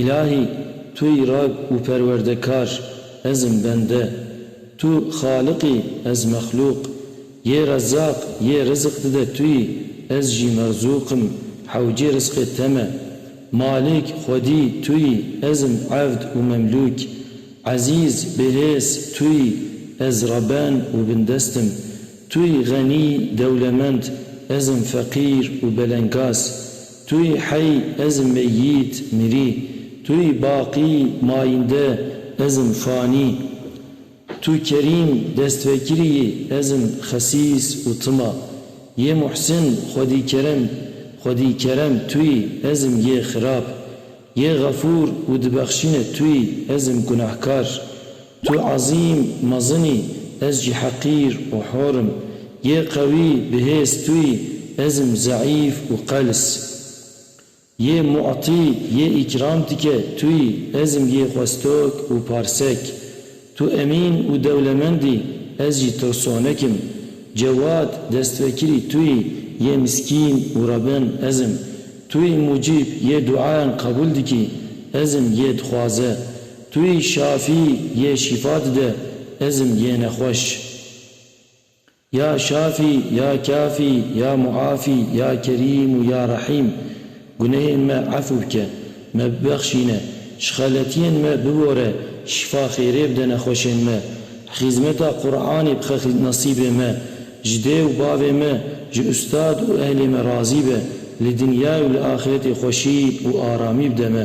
Îlahî Tu yî rag û perwerdekar, ez im bende. Tu xaliq î, ez mexlûq. Yê Rezzaq, yê riziq dide Tu yî, ez jî merzûq im, hewcê rizqê te me. Malik, xwedî, Tu yî, ez im evd û memlûk. Ezîz, bihêz, Tu yî, ez reben û bindest im. Tu yî xenî, dewlemend, ez im feqîr û belengaz. Tu yî hey ez im meyît, mirî, Tu yî baqî, mayînde, ez im fanî. Tu kerîm, destvekirî yî, ez im xesîs û tima. Yê Muhsin, xwedîkerem, xwedîkerem, Tu yî, ez im yê xirab. Yê Xefûr û dibexşîne Tu yî, ez im gunehkar. Tu ezîm, mezin î, ez jî heqîr û hor im. Yê qewî, bihêz tu î, ez im zeîf û qels. Yê mu'tî, yê îkram dike, tu î, ez im yê xwestok û parsek. Tu emîn û dewlemend î, ez jî tirsonek im. Cewad, destwekirî, tu î, yê miskîn û rebin, ez im. Tu î mucîb, yê duayan qebûl dikî, ez im yê dixwaze. Tu yî şafî yê şîfa dide ezm yêne xweş. Ya şafî ya kafî ya muafî ya kerîm û ya rehîm gunehên me efû bike, me bibexşîne, ji xeletiyên me bibore, şîfa xêrê bide nexweşên me, xîzmeta Quranê bixe nesîbê me, ji dê û bavê me, ji ustad û ehlê me razî be, li dinyayê û li axiretê xweşî û aramî bide me.